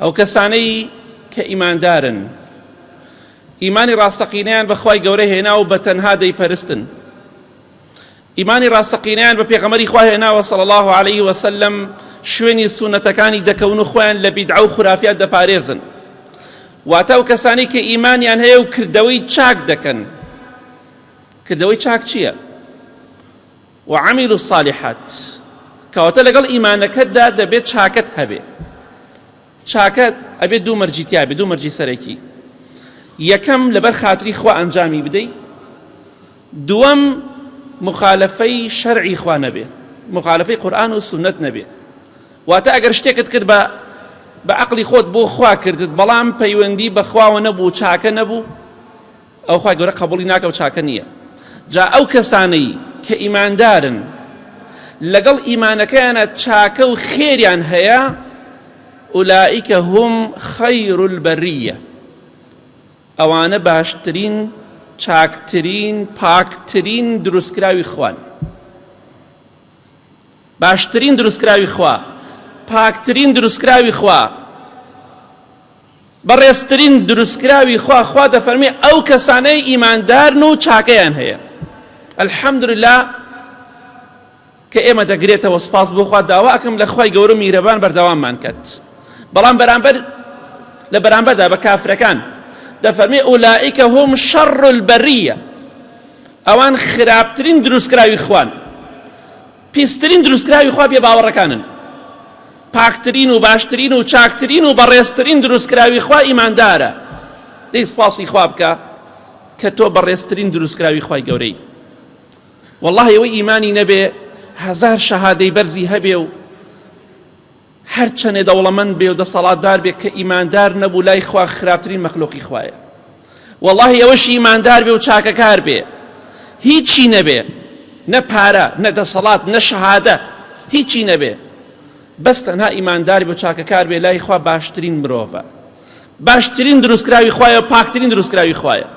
ئەو کەسانەی کە ئیماندارن ئیمانی ڕاستەقینەیان بە خوای گەورە هێنا و بە تەنها دەیپەرستن ئیمانی ڕاستەقینەیان بە پێغەمەری خوا هێناوە صلی الله عليه وسلم شوێنی سونەتەکانی دەکەون و خۆیان لە بیدعە و خورافیات دەپارێزن واتە و کەسانی کە ئیمانیان هەیە و کردەوەی چاک دەکەن کردەوەی چاک چییە؟ وعملوا الصالحات کەواتە لەگەڵ ئیمانەکەتدا دەبێت چاکەت هەبێ چاکەت ئەبێت دوو مەرجی تیاێ دوو مەرجی سەرەکی یەکەم لەبەر خاتری خوا ئەنجامی بدەیت دووەم مخالفەی شەرعی خوا نەبێ مخالفەی قورآن و سنت نەبێ واتە ئەگەر شتێکت کرد بە بە عقلی خۆت بۆ خوا کردت بەڵام پەیوەندی بەخواوە نەبوو چاکە نەبوو ئەوە خوای گەورە قەبوڵی ناکا و چاکە نییە جا ئەو کەسانەی کە ئیماندارن لەگەڵ ئیمانەکەیانە چاکە و خێریان هەیە ئولائیکە هم خیر البریە ئەوانە باشترین چاکترین پاکترین دروستکراوی خوان باشترین دروستکراوی خوا پاکترین دروستکراوی خوا بەڕێزترین دروستکراوی خوا خوا دەفەرمی ئەو کەسانەی ئیماندارن و چاکەیان هەیە الحەمدللا کە ئێمە دەگرێتەوە سپاس بۆخوا داوا ئەکەم لە خی گەورە میرەبان بەردەواممان کرد بەڵام بەرامبەر لە بەرامبەردا بە کافرەکان دەفەرمی ئولائیکە هۆم شەڕ البەریە ئەوان خراپترین دروستکراوی خوان پیسترین دروستکراوی خوا بێ باوەڕەکانن، پاکترین و باشترین و چاکترین و بەڕێزترین دروستکراوی خوا ئیماندارە، دەی سپاسی خوا بکە کە تۆ بەڕێزترین دروستکراوی خوای گەورەی، وەڵاهی ئەوەی ئیمانی نەبێ هەزار شەهادەی بەرزی هەبێ و هەر چەنێ دەوڵەمەند بێ و دەسەڵاتدار بێ کە ئیماندار نەبوو لای خوا خراپترین مەخلوقی خوایە واللهی ئەوەش ئیماندار بێ و چاکەکار بێ هیچی نەبێ نە پارە نە دەسەڵات نە شەهادە هیچی نەبێ بەس تەنها ئیماندار بۆ چاکەکار بێ لای خوا باشترین مرۆڤە باشترین دروستکراوی خوایە پاکترین دروستکراوی خوایە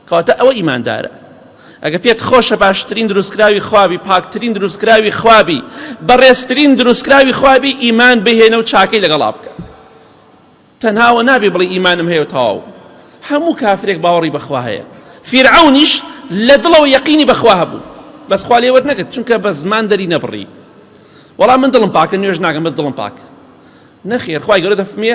کەواتە ئەوە ئیماندارە ئەگە پێت خۆشە باشترین دروستکراوی خوابی پاکترین دروستکراوی خوابی بەڕێزترین دروستکراوی خوابی ئیمان بهێنە و چاکەی لەگەڵا بکە تەنهاوە نابێ بڵی ئیمانم هەیە و تەواو هەموو کافرێک باوەڕی بەخوا هەیە فیرعونیش لە دڵەوە یەقینی بەخوا هەبوو بەس خوا لێوەر نەکرد چونکە بە زمان دەری نەبڕی وەڵام من دڵم پاکە نوێژ ناگەم بەس دڵم پاک نەخێر خخوای گەورە دەفمێ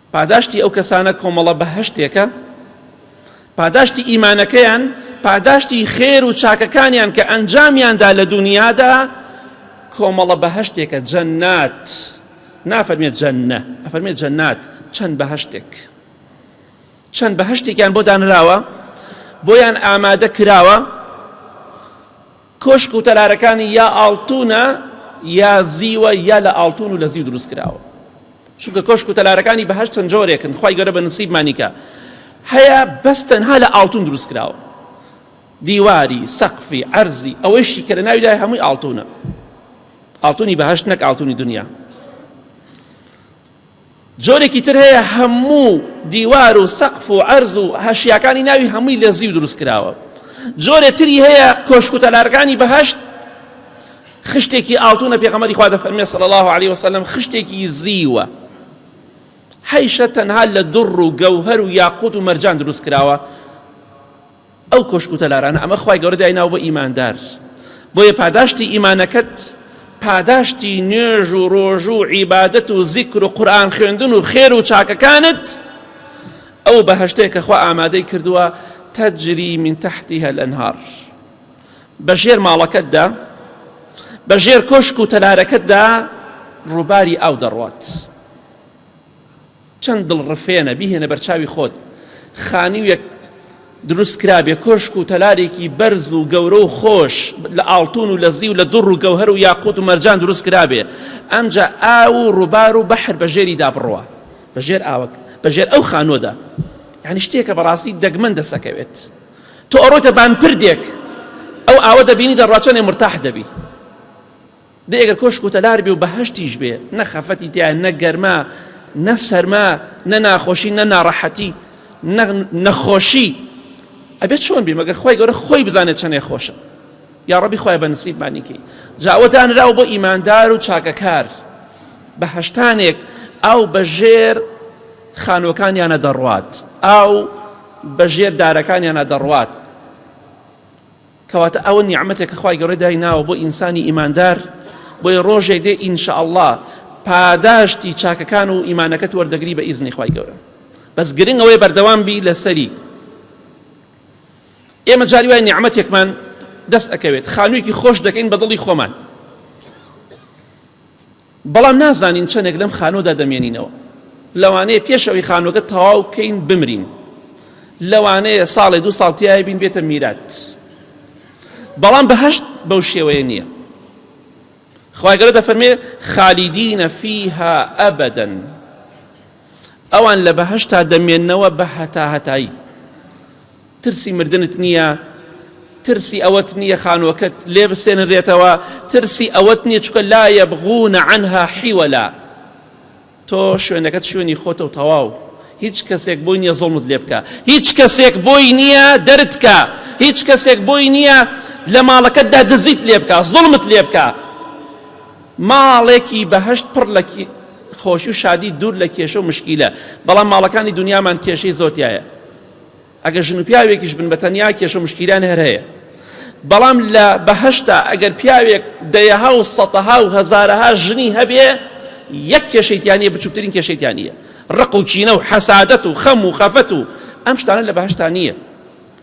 پاداشتی ئەو کەسانە کۆمەڵە بەهەشتێکە پاداشتی ئیمانەکەیان پاداشتی خێر و چاکەکانیان کە ئەنجامیاندا لە دنیادا کۆمەڵە بەهشتێکە جەنات نافەرمێت جەنە ئەفەرمێت جەنات چەند بەهشتێک چەند بەهشتێکیان بۆ دانراوە بۆیان ئامادە کراوە کۆشک و تەلارەکانی یا ئاڵتوونە یا زیوە یا لە ئاڵتوون و لە زیو دروست کراوە چونکە کۆشک و تەلارەکانی بەهەشت چەند جۆرێکن خی گەورە بە نسیبمانیکە هەیە بەس تەنها لە ئاڵتون دروست کراوە دیواری سەقفی ئەرزی ئەوەیشی کە لە ناویدا هەمووی ئاڵتونە ئاڵتونی بەهشت نەک ئاڵتونی دنیا جۆرێکی تر هەیە هەموو دیوار و سەقف و عەرز و هەشیاکانی ناوی هەمووی لە زیو دروست کراوە جۆرێ تری هەیە کۆشک و تەلارەکانی بەهەشت خشتێکی ئاڵتونە پێغەمەری خوا دەفەرمێ صلی الله عليه وسلم خشتێکی زیوە حیشە تەنها لە دڕ و گەوهەر و یاقوت و مەرجان دروست کراوە ئەو کۆشک و تەلارانە ئەمە خوای گەورە دایناوە بۆ ئیماندار بۆیە پاداشتی ئیمانەکەت پاداشتی نوێژ و ڕۆژ و عیبادەت و زیکر و قورآن خوێندن و خێر و چاکەکانت ئەو بەهشتەیە کە خوا ئامادەی کردووە تەجری من تحتی هەل ئەنهار بە ژێر ماڵەکەتدا بە ژێر کۆشک و تەلارەکەتدا ڕووباری ئاو دەڕوات چەند دڵڕفێنە بیهێنە بەرچاوی خۆت خانوویەک دروست کرابێ کۆشک و تەلارێکی بەرز و گەورە و خۆش لە ئاڵتون و لە زی و لە دوڕ و گەوهر و یاقوت و مەرجان دروست کرابێ ئەمجا ئاو و ڕووبار و بەحر بەژێری دا بڕوە بەژێر ئاوەک بەژێر ئەو خانۆدا یعنی شتێکە بەڕاستی دەگمەن دەسەکەوێت تۆ ئەڕۆتە بانپردێک ئەو ئاوە دەبینی دەڕواچەنێ مرتاح دەبی دەی ئەگەر کۆشک و تەلار بێ و بەهەشتیش بێ نە خەفەتی تیا نە گەرما نە سەرما نە ناخۆشی نە ناڕەحەتی نەخۆشی ئەبێت چۆن بێ مەگەر خۆی گەورە خۆی بزانێت چەنێ خۆشە یا ڕەبی خۆی بە نسیبمانیکەی جاوە دانراو بۆ ئیماندار و چاکەکار بە هەشتانێک ئەو بەژێر خانوەکانیانە دەڕوات ئاو بەژێر دارەکانیانە دەڕوات کەواتە ئەوە نیعمەتێکە خوای گەورە دای ناوە بۆ ئینسانی ئیماندار بۆیە ڕۆژێک دێ ئینشاءاللە پاداشتی چاکەکان و ئیمانەکەت وەردەگری بە ئیزنی خوای گەورە بەس گرنگ ئەوەی بەردەوام بی لەسەری ئێمە جاری وای نیعممەتێکمان دەست ئەکەوێت خانوویەکی خۆش دەکەین بە دڵی خۆمان بەڵام نازانین چەندێک لەم خانووەدا دەمێنینەوە. لەوانەیە پێش ئەوەی خانووەکە تەواو بکەین بمرین. لەوانەیە ساڵێ دوو ساڵ تیای بین بێتە میرات. بەڵام بەهشت بەو شێوەیە نییە. خوای گەورە دەفەرمێ خالیدینە فیها ئەبەدەن ئەوان لە بەهەشتا دەمێننەوە بە هەتاهەتایی. ترسی مردنت نییە، ترسی ئەوەت نییە خانووەکەت لێ بسێنرێتەوە، ترسی ئەوەت نییە چکە لا یەبغونە عنها حیوەلا. تۆ شوێنەکەت شوێنی خۆتە و تەواو. هیچ کەسێک بۆی نییە زۆڵمت لێ بکە، هیچ کەسێک بۆی نییە دەرتکە، هیچ کەسێک بۆی نییە لە ماڵەکەتدا دزیت لێ بکە، زوڵمت لێ بکە. ماڵێکی بەهەشت پڕ لە خۆشی و شادی دوور لە کێشە و مشکیلە بەڵام ماڵەکانی دنیامان کێشەی زۆر تایە ئەگەر ژن و پیاوێکیش بن بە تەنیا کێشە و مشکیلان هەر هەیە بەڵام لە بەهشتا ئەگەر پیاوێک دەیەها و سەتەها و هەزارەها ژنی هەبێ یەک کێشەیتیانە بچووکترین کێشەیتیانە ڕق و کینە و حەسادەت و خەم و خەفەت و ئەم شتانە لە بەهشتا نییە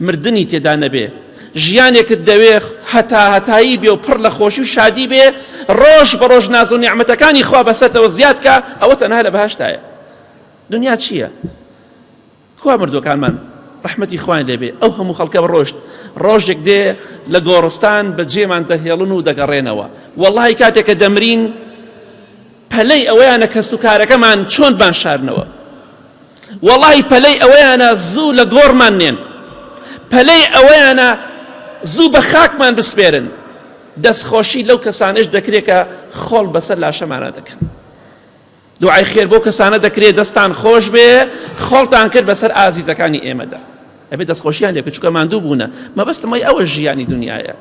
مردنی تێدا نەبێ ژیانێکت دەوێ هەتا هەتایی بێ و پڕ لە خۆشی و شادی بێ ڕۆژ بە ڕۆژ ناز و نیعمەتەکانی خوا بەسەرتەوە زیاد کە ئەوە تەنها لە بەهشتایە دنیا چییە؟ کوا مردوەکانمان ڕحمەتی خوان لێبێ ئەو هەموو خەڵکە ڕۆشت ڕۆژێک دێ لە گۆڕستان بە جێمان دەهێڵن و دەگەڕێنەوە وەڵی کاتێکە دەمرین پەلەی ئەوەیانە کەسوکارەکەمان چۆن بانشارنەوە وەڵی پەلەی ئەوەیانە زوو لە گۆڕمان نێن پەلەی ئەوەیانە زوو بە خاکمان بسپێرن دەستخۆشی لەو کەسانش دەکرێت کە خۆڵ بەسەر لاشەمانە دەکەن دوعای خێر بۆ کەسانە دەکرێت دەستان خۆش بێ خۆڵتان کرد بەسەر ئازیزەکانی ئێمەدا ئەبێ دەستخۆشیان لێ بکە چونکە ماندوو بوونە مەبەستم وای ئەوە ژیانی دنیاە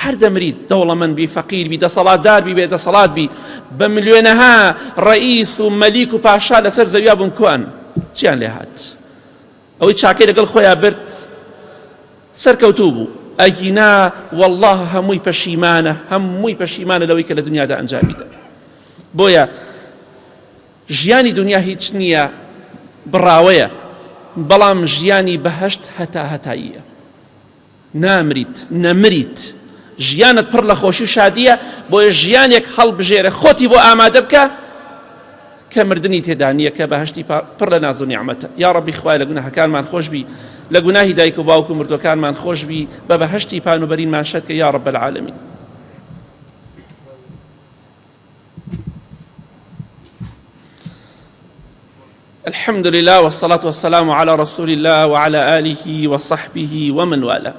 هەر دەمریت دەوڵەمەند بی فەقیر بی دەسەڵاتدار بی بێ دەسەڵات بی بە ملیۆنەها ڕئیس و مەلیک و پاشا لەسەر زەویا بوون کوان چیان لێ هاات ئەوەی چاکەی لەگەڵ خۆیان برد سەرکەوتوو بوو ئەگینا والله هەمووی پەشیمانە هەمووی پەشیمانە لەوەی کە لە دنیادا ئەنجامیدا بۆیە ژیانی دونیا هیچ نییە بڕاوەیە بەڵام ژیانی بەهەشت هەتا هەتاییە نامریت نەمریت ژیانت پڕ لە خۆشی و شادیە بۆیە ژیانێک هەڵبژێرە خۆتی بۆ ئامادە بکە کە مردنی تێدانە کە بەهشتی پڕ لە ناز و نیعممەتە یا ڕبی خوای لە گوناهەکانمان خۆشببی لە گوناهی دایک و باوک و مردوەکانمان خۆشببی بە بەهشتی پانوبەرینمان شەکە یا ڕب العالمین الحمد لله والصلاة والسلام على رسول الله وعلى آله وصحبه ومن والاه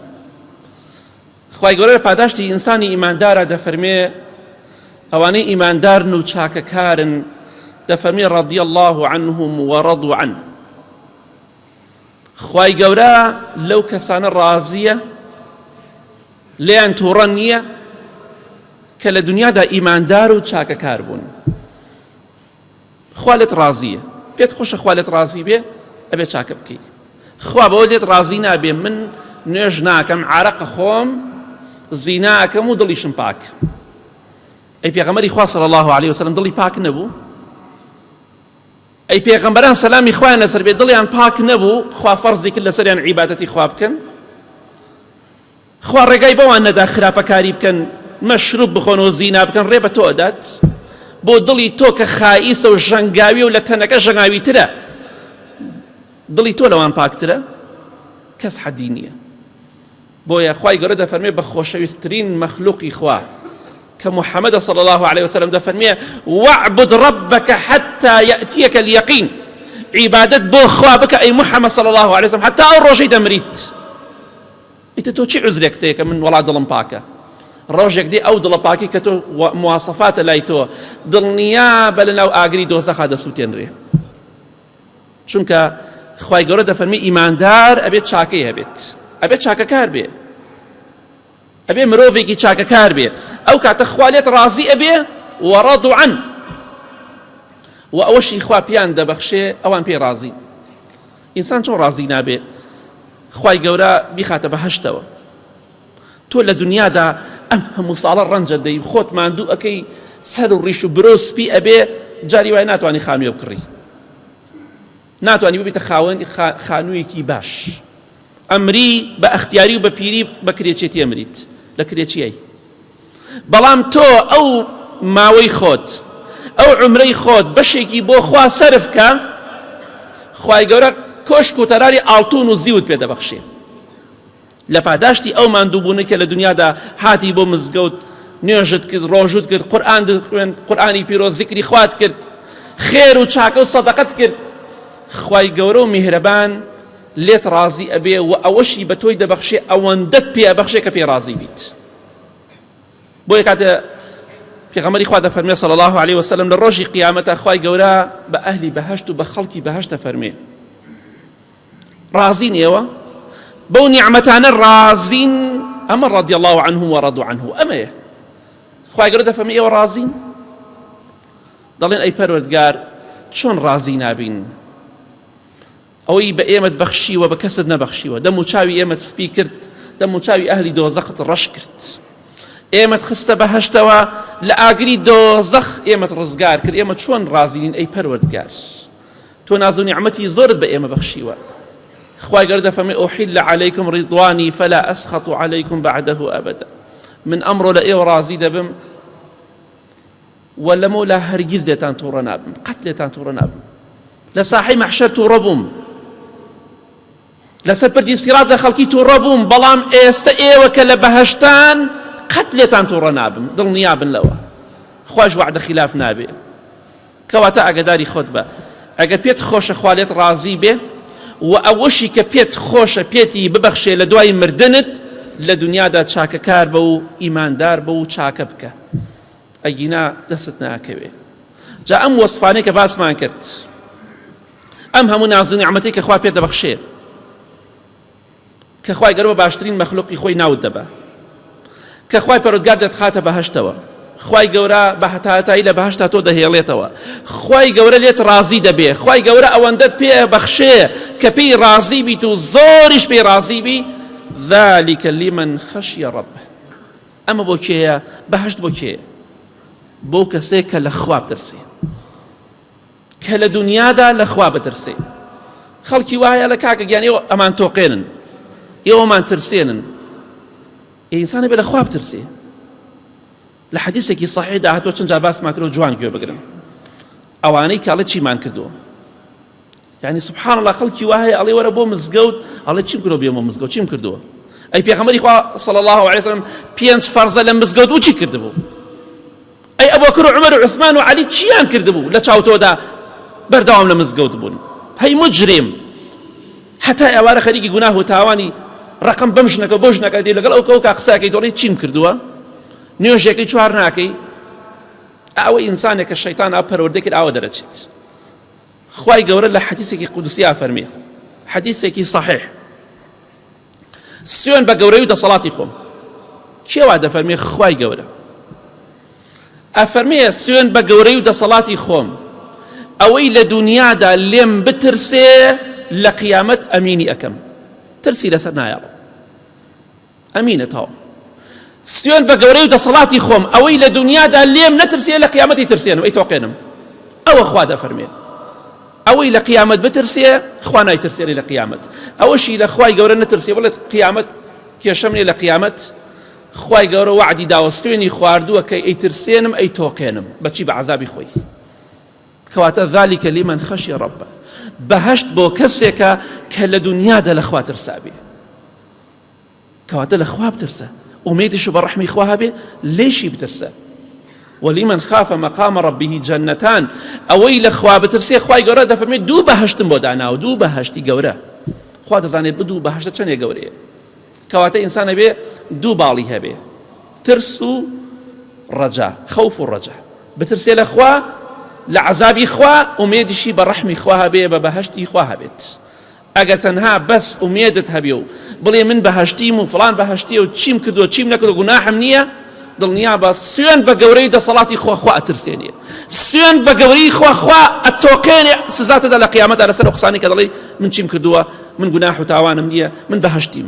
خواهی گەورە پاداشتی ئینسانی ئیماندارە دەفەرمێ ئەوانەی ئیماندارن و چاکەکارن دەفەرمی ڕەدی الله عنهم وەڕەد عن خی گەورە لەو کەسانە ڕازیە لێیان توڕە نییە کە لە دنیادا ئیماندار و چاکەکار بوون خوا لێت ڕازیە پێت خۆشە خوا لێت ڕازی بێ ئەبێ چاکە بکەیت خوا بەوە لێت ڕازی نابێ من نوێژ ناکەم عراق خۆم زیناکەم و دڵیشم پاک ئەی پێغەمەری خوا صلی الله عليه وسلم دڵی پاک نەبوو ئەی پێغەمبەران سەلامی خوایان لەسەر بێ دڵیان پاک نەبوو خوا فەرزی کرد لەسەریان عیباتەتی خوا بکەن خوا ڕێگای بەوان نەدا خراپەکاری بکەن مەشروب بخۆن و زینا بکەن ڕێ بە تۆ ئەدات بۆ دڵی تۆ کە خائیسە و ژەنگاوی و لە تەنەکە ژەنگاوی ترە دڵی تۆ لەوان پاکترە کەس حەدی نییە بۆیە خوای گەورە دەفەرمێ بە خۆشەویستترین مەخلوقی خوا کە محەممەدە صلی الله عليه وسلم دەفەرمێ وعبد ربك حتى يأتيك اليقين عیبادت بۆ خوا بکە ئەی محەممەد صلی الله عليه وسلم حتى ئەو ڕۆژەی دەمریت ئیتر تۆ چی عوزرێکت هەیە کە من وەڵا دڵم پاکە ڕۆژێک دێ ئەو دڵە پاکی کە تۆ مواسەفاتە لای تۆ دڵنیا بە لە ناو ئاگری دۆزەخا دەسووتێنرێ چونکە خی گەورە دەفەرمی ئیماندار ئەبێت چاکەی هەبێت ئەبێت چاکەکار بێ ئەبێ مرۆڤێکی چاکەکار بێ ئەو کاتە خوالێت ڕازی ئەبێ وەڕەدوعەن و ئەوەشی خوا پیان دەبەخشێ ئەوان پێی ڕازین ئینسان چۆن ڕازی نابێ خوای گەورە بیخاتە بەهەشتەوە تۆ لە دنیادا ئەم هەموو ساڵە ڕەنجە دەی خۆت ماندوو ئەەکەی سەر و ڕیش و برۆ سپی ئەبێ جاری وای ناتوانانی خانوێ بکڕی ناتوانانی ببیتە خاوەنی خانوویەکی باش ئەمری بە ئەختیاری و بە پیری بە کرێچێتی ئەمریت لە کرێچیایی بەڵام تۆ ئەو ماوەی خۆت ئەو عومرەی خۆت بەشێکی بۆ خوا سەرف کە خوای گەورە کۆشک و تەراری ئاڵتون و زیوت پێ دەبەخشێ لە پاداشتی ئەو ماندووبوونە کە لە دنیادا هاتی بۆ مزگەوت نوێژت کرد ڕۆژوت کرد قورآن خوێن قورآانی پیرۆ زیکری خوات کرد خێر و چاکە و سەدەقەت کرد خی گەورە و میهرەبان لێت ڕازی ئەبێ و ئەوەشی بە تۆی دەبەخشێ ئەوەندەت پێ بەخشێ کە پێ ڕازی بیت. بۆ یە کاتێ پێغەمەری خوا دەفەرمێ صلی الله عليه وسلم لە ڕۆژی قیامەتە خوای گەورە بە ئەهلی بەهشت و بە خەڵکی بەهشتە فەرمێ ڕازین ئێوە بەو نیعممەتانە ڕازین ئەمە ڕادی الله عنه و ڕدو عنه ئەمەیە خوای گەورە دەفەرمی ئێوە ڕازین دەڵێن ئەی پەروەردگار چۆن ڕازی نابین ئەوەی بە ئێمەت بەخشیوە بە کەست نەبەخشیوە دەم و چاوی ئێمەت سپی کرد دەم و چاوی ئەهلی دۆزەخت ڕەش کرد ئێمەت خستە بەهشتەوە لە ئاگری دۆزەخ ئێمەت ڕزگار کرد ئێمە چۆن ڕازیین ئەی پەروەردگار تۆ ناز و نیعمەتی زۆرت بە ئێمە بەخشیوە خوای گەردە فەمێ ئۆحیل لە عەلەیکم ڕیدوانی فەلا ئەسخەت و عەلەیکم بەعدەه ئەبدا من ئەمڕۆ لە ئێوە ڕازی دەبم وە لە مەولا هەرگیز لێتان توڕە نابم قەت لێتان توڕە نابم لە ساحی مەحشەر توڕە بووم لەسەر پردی سیرات لە خەڵکی توڕە بووم بەڵام ئێستا ئێوە کە لە بەهشتان قەت لێتان توڕە نابم دڵنیا بن لەوە خوش وعدە خلاف نابێ کەواتە ئاگداری خۆت بە ئەگەر پێت خۆشە خوالێت ڕازی بێ و ئەوەشی کە پێت خۆشە پێتی ببەخشێ لە دوای مردنت لە دنیادا چاکەکار بە و ئیماندار بە و چاکە بکە ئەگینا دەستت ناکەوێ جا ئەم وەسفانەی کە باسمان کرد ئەم هەموو نازو نیعمەتی کە خوا پێ دەبەخشێ کە خوای گەرەوە باشترین مەخلوقی خۆی ناوت دەبە کە خوای پەرۆدگار دەتخاتە بەهشتەوە خی گەورە بە هەتاهتایی لە بەهشتا تۆ دەهێڵێتەوە خی گەورە لێت ڕازی دەبێ خی گەورە ئەوەندەت پێ بەخشێ کە پێی ڕازی بیت و زۆریش پێی ڕازی بی ذلك لمن خشی ربه ئەمە بۆ کێیە بەهشت بۆ کێیە بۆ کەسێک کە لە خواب دەرسێ کە لە دنیادا لە خوا بەترسێ خەڵکی وایە لە کاکە گیان ئێوە ئەمان تۆقێنن ئێوەمان ترسێنن ئینسانە بێ لە خواب ترسێ لە حەدیسێکی سەحیدا هاتۆ چەند جا باسمان کرد و جوان گوێ بگرن ئەوانەی کاڵە چیمان کردووە یانی سبحان اللە خەڵکی وا هەیە ئەڵێ وەرە بۆ مزگەوت ئەڵێ چیم کردەوە بێمە مزگەوت چیم کردووە ئەی پێخەمەری خوا صلی الله علیه وسلم پێنج فەرزە لە مزگەوت و چی کردبوو ئەی ئەبوکر و عمر و عثمان و علی چیان کردبوو لە چاوتۆدا بەردەوام لە مزگەوت بوون هەی مجرم حتا ئێوارە خەریکی گوناه و تاوانی ڕقم بەم ژنەکە بۆ ژنەکە دێ لەگەڵ ئەو کەوکە قساکەی دۆڵی چیم کردووە نوێژەکەی چوار ناکەی ئەوە ئینسانێک کە شەیتان ئا پەروەردەکرد ئاوە دەرەچێت خوای گەورە لە حەدیسێکی قودسیا فەرمی حەدیسێکی صحیح سوێن بە گەورەی و دەسەڵاتی خۆم کێوا دەفەرمێ خوای گەورە ئەفەرمێ سوێن بە گەورەی و دەسەڵاتی خۆم ئەوەی لە دنیادا لێم بترسێ لە قیامەت ئەمینی ئەەکەم ترسی لەسەر نایەڵم ئەمینە تاو سوێن بە گەورەی و دەسەڵاتی خۆم ئەوەی لە دنیادا لێم نەترسێ لە قیامەتی ترسێنم ئەی تۆقێنم ئەوە خوا دەفەرمێ ئەوەی لە قیامەت بترسێ خوا نایترسێنی لە قیامەت ئەوەشی لە خوای گەورە نەترسێ بڵێت قیامەت کێشەم لێ لە قیامەت خوای گەورە وعدی داوە سوێنی خواردووە کە ئەیترسێنم ئەی تۆقێنم بەچی بە عذابی خۆی کەواتە ذلكکە لیمەن خەشی ڕەبە بەهشت بۆ کەسێکە کە لە دنیادا لە خواترسابێ کەواتە لە خوا بترسە ئومێدیش بە ڕحمی خوا هەبێ لێشی بترسە وەلیمەن خافە مەقامە ڕبیهی جەنەتان ئەوەی لە خوا بترسێ خی گەورە دەفەرمێت دوو بەهشتم بۆ داناو دوو بەهشتی گەورە خوا دەزانێت بدوو بەهشتە چەندێ گەورەیە کەواتە ئینسانە بێ دوو باڵی هەبێ ترس و ڕەجا خەوف و ڕەجا بترسێ لە خوا لە عذابی خوا ئومێدیشی بە ڕحمی خوا هەبێ بە بەهشتی خوا هەبێت ئەگەر تەنها بەس ئومێدت هەبێ و بڵێ من بەهشتیم و فلان بەهشتیە و چیم کردو چیم نەکردو گوناحم نییە دڵنیا بە سوێن بە گەورەی دەسەڵاتی خۆخوا ئەترسێنێ سوێن بە گەورەی خۆخوا ئەتۆقێنێ سزاتەدا لە قیامەتە لەسەر قسانی کە دەڵێ من چیم کردووە من گوناح و تاوانم نییە من بەهشتیم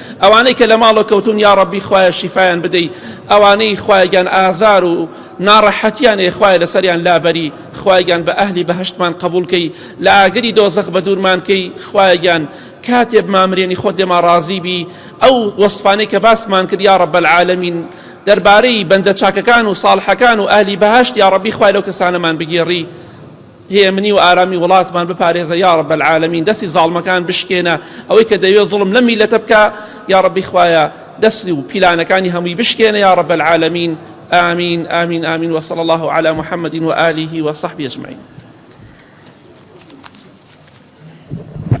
ئەوانەی کە لە ماڵە کەوتون یاڕەبی خوایە شیفایان بدەی ئەوانەی خوایگیان ئازار و ناڕەحەتیان ئێ خوای لەسەریان لابەری خوایگیان بە ئەهلی بەهشتمان قبولکەی لە ئاگری دۆزەخ بە دوورمانکەی خوایگیان کاتێ بمامرێنی خۆت لێما ڕازی بی ئەو وەسفانەی کە باسمان کرد یا ڕەب العالمین دەربارەی بەندە چاکەکان و ساڵحەکان و ئەهلی بەهشت یا ڕەبی خوای لەو کەسانەمان بگێڕی هێمنی و ئارامی وڵاتمان بپارێزە یاڕب العالمین دەستی زاڵمەکان بشکێنە ئەوەی کە دەوێ زڵم لەم میلەتە بکە یاڕبی خوایە دەستی و پیلانەکانی هەمووی بشکێنە یاڕب العالمین آمین آمین آمین وصل الله على محمد وآله وصحبه أجمعين